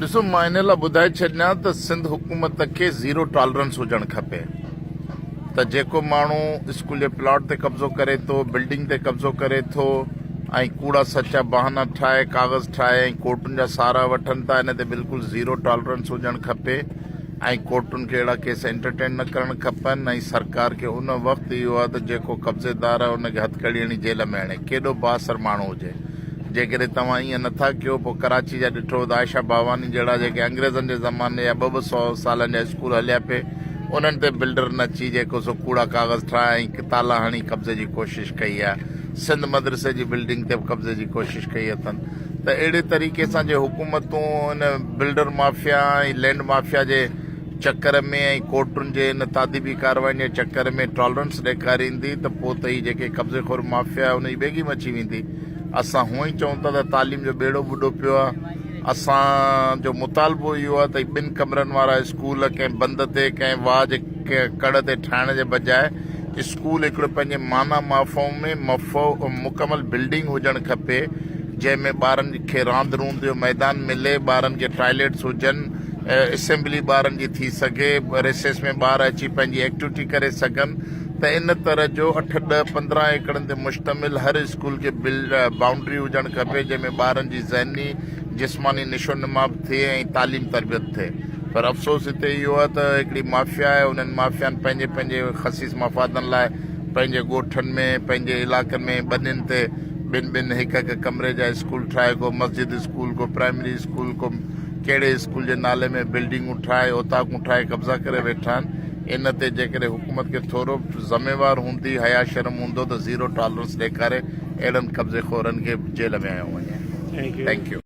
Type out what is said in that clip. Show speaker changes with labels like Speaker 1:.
Speaker 1: ڏسو مان ان لاء ٻڌائي ڇڏيان ته سنڌ حڪومت کي زيرو ٽالرنس هجڻ کپي ته جيڪو ماڻهو اسڪول جي پلاٽ تي قبضو ڪري ٿو بلڊنگ تي قبضو ڪري ٿو ۽ ڪوڙا سچا بهانا ٺاهي ڪاغذ ٺاهي ۽ ڪورٽن جا سارا وٺن ٿا ان تي بلڪل زيرو ٽالرنس هجڻ کپي ۽ ڪورٽن کي اهڙا ڪيس انٽرٽين نه ڪرڻ کپن ۽ سرڪار کي ان وقت اهو آهي ته جيڪو قبضيدار آهي ان کي هٿڪڙي هڻي جيل ۾ هڻي ڪيڏو بااثر ماڻهو هجي جيڪڏهن توهان ائين نه ٿا ڪيو پوء ڪراچي جا ڏٺو ته عائشه ڀاواني جهڙا جيڪي انگريزن جي زماني جا ٻه ٻه سؤ سالن جا اسڪول هليا پي انهن تي بلڊر نه اچي جيڪو سو ڪوڙا ڪاغذ ٺاهي ۽ تالا هڻي قبضي جي ڪوشش ڪئي آهي سنڌ مدرسي جي بلڊنگ تي به قبضي جي ڪوشش ڪئي اٿن ته اهڙي طريقي سان جي حڪومتون ان بلڊر مافيا ۽ لينڊ مافيا جي چڪر ۾ ۽ ڪورٽن جي ان تاديبي ڪارواين جي چڪر ۾ ٽالرنس ڏيکاريندي ته پوء ته هي جيڪي قبضي خور مافيا آهي ان جي ٻيگي مچي ويندي اسان هونء ئي چئون ٿا ته تعليم جو ٻيڙو ٻڏو پيو آهي اسان جو مطالبو اهو آهي ته ٻن ڪمرن وارا اسڪول ڪنهن بند تي ڪنهن واهه جي ڪڙ تي ٺاهڻ جي بجاء اسڪول هڪڙو پنهنجي معنيٰ مافهوم ۾ مڪمل بلڊنگ هجڻ کپي جنهن ۾ ٻارن کي راند روند جو ميدان ملي ٻارن کي ٽائليٽس هجن اسيمبلي ٻارن جي ٿي سگهي، ريسيس ۾ ٻار اچي پنهنجي ايڪٽوٽي ڪري سگهن ته ان طرح جو اٺ، ڏهه، پندرهن ايڪڙن تي مشتمل هر اسڪول کي بائونڊري هجڻ کپي جنهن ۾ ٻارن جي ذهني، جسماني نشو نما به ٿئي ۽ تعليم تربيت ٿئي پر افسوس هتي اهو آهي ته هڪڙي مافيا آهي انهن مافيائن پنهنجي پنهنجي خسيس مفادن لاء پنهنجي ڳوٺن ۾ پنهنجي علائقن ۾ ٻنين تي ٻن ٻن هڪ هڪ ڪمري جا اسڪول ٺاهي ڪو مسجد اسڪول ڪو پرائمري اسڪول ڪو ڪهڙي اسڪول جي نالي ۾ بلڊنگون ٺاهي اوطاقون ٺاهي قبضا ڪري ويٺا آهن ان تي جيڪڏهن حڪومت کي ٿورو به ذميوار هوندي حيا شرم هوندو ته زيرو ٽالرنس ڏيکاري اهڙن قبضي خورن کي جيل وهايو وڃي. Thank you.